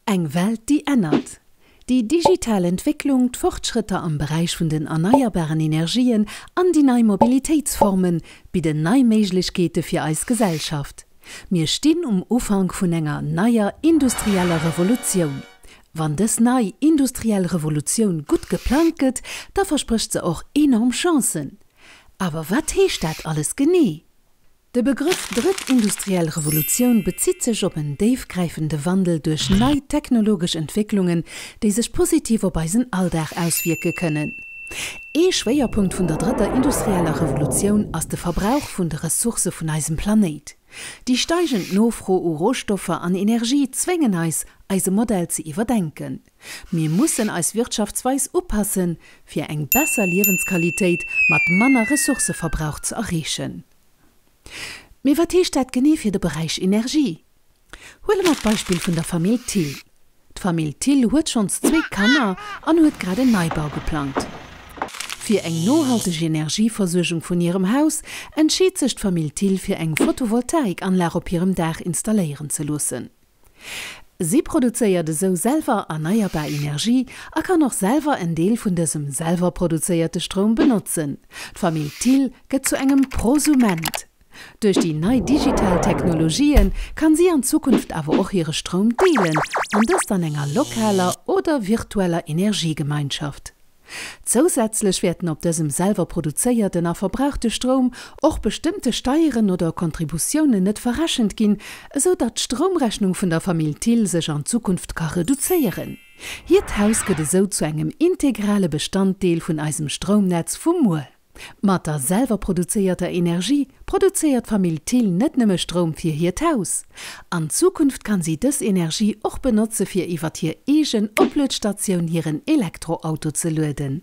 Eng Welt, déi ännert. Déi digital Entwécklung, d'Fortschrëtter am Beräich vun den erneierbaren Energien an déi nei Mobilitéitsforme bidden nei Méiglechkeete fir eis Gesellschaft. Mir stinn um Ufank vun enger neier industrieller Revolutioun. Wann dës nei industriell Revolutioun gutt geplangt gëtt, da versprécht se och enorm Chancen. Awer wat heescht dat alles genee? De Begrëff drëtt industriell Revolutioun bezitt sech op en déifgräifende Wandel duerch nei technologesch Entwécklungen, déi sech positiv op eisen Alldag auswierke kënnen. Ee Schwéierpunkt vun der drëtter industrieller Revolutioun ass de Verbrauch vun de Ressourcë vun eisem Planéit. Déi steigend Nofro u Rohstoffer an Energie zwéngen eis, eise Modell ze iwwerdenken. Mir mussen eis Wirtschaftsweis upassen, fir eng besser Liewensqualitéit mat manner Ressourcëverbrauch ze erreechen. Mee wat heescht dat genee fir de Beräich Energie? Huele mer d'Beispill vun der Famill Thill. D'Famill Thill huet schonns zwee Kanner an huet grad en Neibau geplangt. Fir eng nohalteg Energieversuergung vun hirem Haus entscheet sech d'Famill Thill fir eng Photovoltaikanlag op hirem Daach installéieren ze loossen. Si produzéiert esou selwer erneierbar Energie a kann och selwer en Deel vun dësem selwer produzéierte Stroum benotzen. D'Famill Thill gëtt zu engem Prosument. Duerch déi nei digital Technologië kann si an Zukunft awer och hire Stroum deelen, an dëst an enger lokaler oder virtueller Energiegemeinschaft. Zousätzlech wäerten op dësem selwer produzéierten a verbrauchte Stroum och bestëmmte Steieren oder Kontributiounen net verrechent ginn, esou datt d'Stroumrechnung vun der Famill Thill sech an Zukunft ka reduzéieren. Hiert Haus gëtt esou zu engem integrale Bestanddeel vun eisem Stroumnetz vu muer. Mat der selwer produzéierter Energie produzéiert d'Famill Thill net nëmme Stroum fir hiert Haus. An Zukunft kann si dës Energie och benotze fir iwwert hir eegen Opluetstatioun hiren Elektroauto ze lueden.